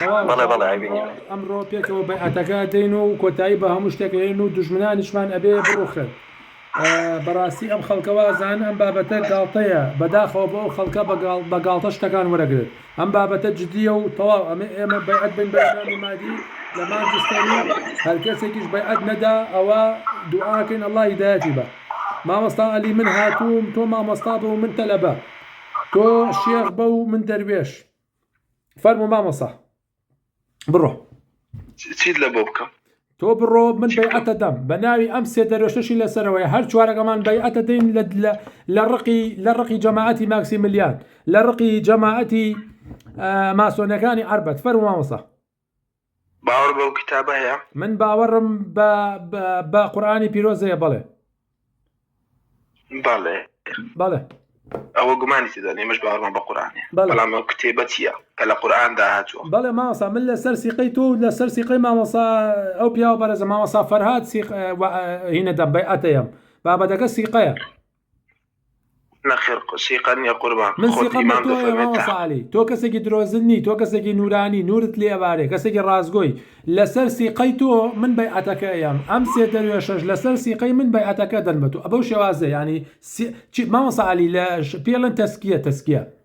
بەڵێ بەڵێ عەیبی نیە. ئەمڕۆ پێکەوە بەیعەتەکە دەین و کۆتایی بە هەموو شتێک ئەهێنین و دوژمنانیشمان ئەبێ بڕوخن. بەڕاستی ئەم خەڵکە وازان ئەم بابەتە گاڵتەیە بەداخەوە بۆ ئەو خەڵکە بە گاڵتە شتەکان وەرەگرن ئەم بابەتە جدیە و تەواو ئەمێ ئێمە بەیعەت بین بە ئیمام و مادی لە مانج ستەمی هەرکەسێکیش بەیعەت نەدا ئەوە دوعاکەین اللە هیدایەتی بە مامۆستا عەلی من هاتووم تۆ مامۆستا بە و من تەلەبە تۆ شێخ بە و من دەروێش. فەرمو مامۆسا بڕۆ چیت لە بۆ بکەم تۆ بڕۆ من بەیعەتە دەم بە ناوی ئەم سێ دەرۆشتشی لەسەرەوەی هەر چوارەکەمان بەیعەتە دەین لە ڕقی لە ڕقی جەماعەتی ماکسی ملیان لە ڕقی جەماعەتی ماسۆنەکانی عربەت فەرمامەسا باوەڕ بەو کتابە هەیە؟ من باوەڕم بە بە قورآانی پیرۆزەیە بەڵێ بەڵێ بەڵێ ئەوە گومانی تێدان ئێمەش باوەڕمان بە قورآانێ بەڵام ئەو کتێبە چییە کە لە قورآاندا هاتووە بەڵێ ماوەسا من لەسەر سیقەی تۆ و لەسەر سیقەی مامەسا ئەو پیاوە بەرەزە مامەسا فەرهاد سیق هینەدەم بەی ئەتەیەم بابەتەکە سیقەیە نەخێر سیقەت نیە قوربان من خۆت سیقەم بە ئیمام تۆیە دەفەرمێت مامۆستا تە. عەلی تۆ کەسێکی درۆزن نی تۆ کەسێکی نورانی نورت لێ ئەبارێ کەسێکی ڕاستگۆی لەسەر سیقەی تۆ من بەیعەتەکە ئەیەم ئەم سێ دەروێشەش لەسەر سیقەی من بەیعەتەکە ئەدەن بە تۆ بەو شێوازە یانی سی چی مامۆستا عەلی لە ش پێڵێن تەسکیە تەسکیە.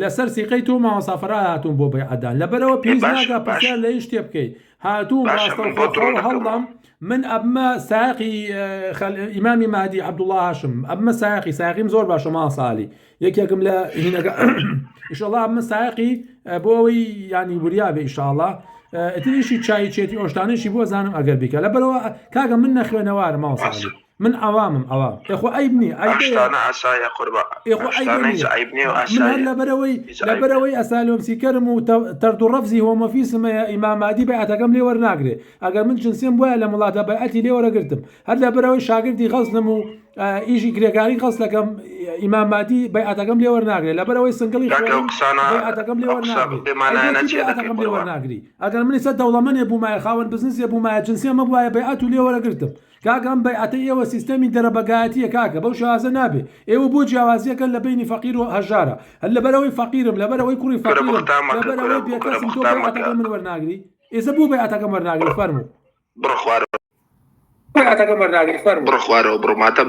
لەسەر سیقەی تۆ مامۆستا فەرهاد هاتووم بۆ بەیعەت دان لەبەرئەوە پێویست ناکا پرسیار لە هیچ شتێ بکەی هاتووم ڕاستەوخۆ خۆم هەڵدەم من ئەبمە سایەقی ئیمامی مەهدی عەبدوڵڵا هاشم ئەبمە سایەقی سایەقیم زۆر باشە مامۆستا عەلی یەکێکم لە هینەکە ئیشەڵا ئەبمە سایەقی بۆ ئەوەی یانی وریا بێ ئیشاڵا ئەتریشی چایچێتی ئۆشتانێکی بۆ زانم ئەگەر بیکە لەبەرەوە کاکە من نەخوێنەوارم مامۆستا عەلی من عەوامم عەوام ئێ خۆ عەیب نیە عەیبەیە ئەم شتانە ئاسایە قوربان ئێ خۆ عەیبە نیە ئەم شتانە هیچ عەیب نیە و ئاسایە من هەر لەبەرەوەی لەبەرەوەی ئەسالۆمسیکەرم و تەرد و ڕەفزی هۆمۆفیسم هەیە ئیمام مادی بەیعەتەکەم لێ وەرناگرێ ئەگەر من جنسێم بوایە لەم وڵاتە بەیعەتی لێ وەرەگرتم هەر لەبەرەوەی شاگردی غەزلم و ئیشی کرێکاری غەزلەکەم ئیمام مادی بەیعەتەکەم لێ وەرناگرێ لەبەرەوەی سنگڵی کاکە ئەو قسانە بەیعەتەکەم لێ وەرناگرێ بێمانایانە چیە دەکەی قوربان ئەگەر من ئیستا دەوڵەمەنێ بومایە خاوەن بزنسێ بومایە جنسێمە بوایە بەیعەت و لێ وەرەگرتم کاکە ئەم بەیعەتەی ئێوە سیستەمی دەرەبەگایەتیە کاکە بەو شێوازە نابێ ئێوە بۆ جیاوازیەکەن لە بەینی فەقیر و هەژارە هەر لەبەر ئەوەی فەقیرم لەبەر ئەوەی کوڕی فەقیرم کورە بوختان مەکە لەبەر کورە ئەوەی بێ کورە کەسم تۆ بوختان مەکە بەیعەتەکەی من وەرناگری ئێزە بۆ بەیعەتەکەم وەرناگری فەرموو بڕۆ خوارەوە بەیعەتەکەم وەرناگری فەرموو بڕۆ خوارەوە بڕۆ ماتەم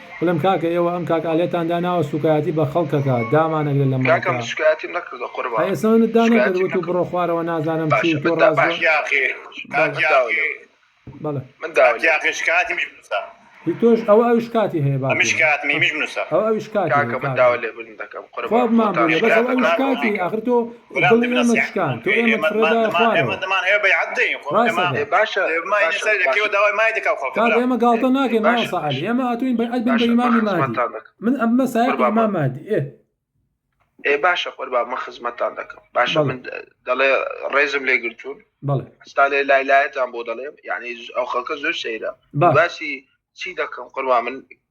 بلم کاکە ئێوە ئەم کاک ئالەتان داناوە سوکایەتی بە خەڵکەکا دامانەگرێت لە ماڵتا ئەی ئێستا منت دانەکرد وتو بڕۆ خوارەوە نازانم چی و تۆ ڕاست هی تۆش ئەوە ئەوی شکاتی هەیە با ئەوە ئەوی شکاتی هەیە بەس ئەوە ئەوی شکاتی ئاخر تۆ دڵی ئێمە شکاند تۆ ئێمەت فرێدایە خوارەوە ڕاستەکەی کاکە ئێمە گاڵتە ناکەین مامۆستا عەلی ئێمە هاتووین بەیعەت بین بە ئیمامی مادی من ئەم بمە سایەقی ئیمام مادی ئێ ئێ باشە قوربان من خزمەتتان دەکەم باشە من دەڵێ ڕێزم لێ گرتوون بەڵێ ئەستا لێ لای لایەتان بۆ دەڵێم یعنی ئەو خەڵکە زۆر سەیرە باسی چی دەکەم قوربان من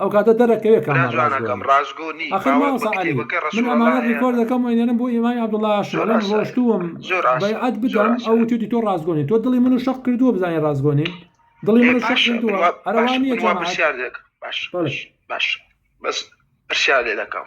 ئەو کاتە دەرەکەوێ کە ئەمە ڕاستگۆ نیە ئاخر مامۆستا عەلی من ئەمانە ڕیکۆرد دەکەم و ئەینێرم بۆ ئیمامی عەبدوڵا ئاشنا من ڕۆشتووم بەیعەت بدەم ئەو وتوێتی تۆ ڕاستگۆ نیە تۆ دڵی منو شەق کردووە بزانین ڕاستگۆ نیم دڵی منو شەق کردووە هەروا نیە جەماعەت باش باش بەس پرسیار لێ دەکەم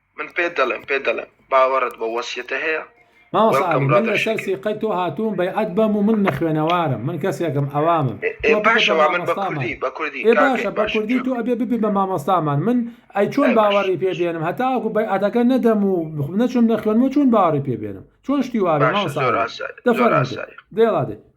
من پێت دەڵێم پێت دەڵێم باوەڕت بەو وەسیەتە هەیە؟ مامۆستا ئاری من لەسەر سیقەی تۆ هاتووم بەیعەت بەم و من نەخوێنەوارم من کەسێکم ئەوامم تۆ باشە بە مامۆستامان ئێ باشە بە کوردی تۆ ئەبێ ببی بە مامۆستامان من ئەی چۆن باوەڕی پێ بێنم هەتاوەکو بەیعەتەکە نەدەم و نەچم نەخوێنمەوە چۆن باوەڕی پێ بێنم چۆن شتی وا بێ مامۆستا ئاری دەفەرموو دێ دێڵا دێ.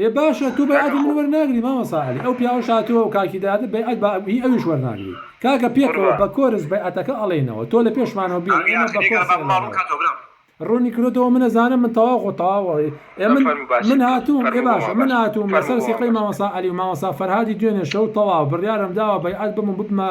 ئێ باشە تۆ بەیعەتی من وەرناگری مامۆستا عەلی ئەو پیاوەش هاتوە و کاکی دادە بەیعەت بە هی ئەویش وەرناگری کاکە پێکەوە بە کۆرس بەیعەتەکە ئەڵێینەوە تۆ لە پێشمانەوە بی ئێمە بە کۆرس ئەڵێینەوە ڕونی کرۆتەوە من ئەزانم من تەواو خۆ تەواوە ئێ من من هاتوم ئێ باشە من هاتوم لەسەر سیقەی مامۆستا عەلی و مامۆستا فەرهادی دوێنێ شەو تەواو بڕیارم داوە بەیعەت بم و ببمە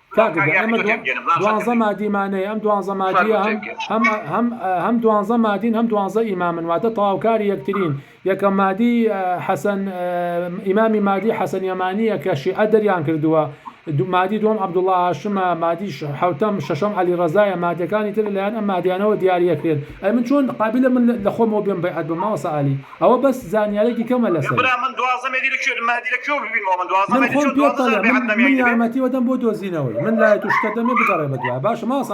کاک گیان ئێمە دوا دوانزە مادیمانەیە ئەم دوانزە مادیە هەم هەم هەم هەم دوانزە مادین هەم دوانزە ئیمامن واتە تەواوکاری یەکترین یەکە مادی حەسەن ئیمامی مادی حەسەن یەمانیە کە شیعە دەریان کردووە دو مادی دوم عەبدوڵڵا هاشمە مادی حوتەم شەشەم عەلی ڕەزایە مادەکانی تر لەلایەن ئەم مادیانەوە دیاریەکرێن ئەی من چۆن قابلە من لە خۆمەوە بێم بەیعەت بم مامۆستا عالی ئەوە بەس زانیارێکی کەمە لەسەری. من خۆم پێت دەڵێم من من یارمەتیوە دەم بۆ دۆزینەوەی من لایەتو شتە دەمێ بگەڕێ بەدوایە باشە مامۆستا.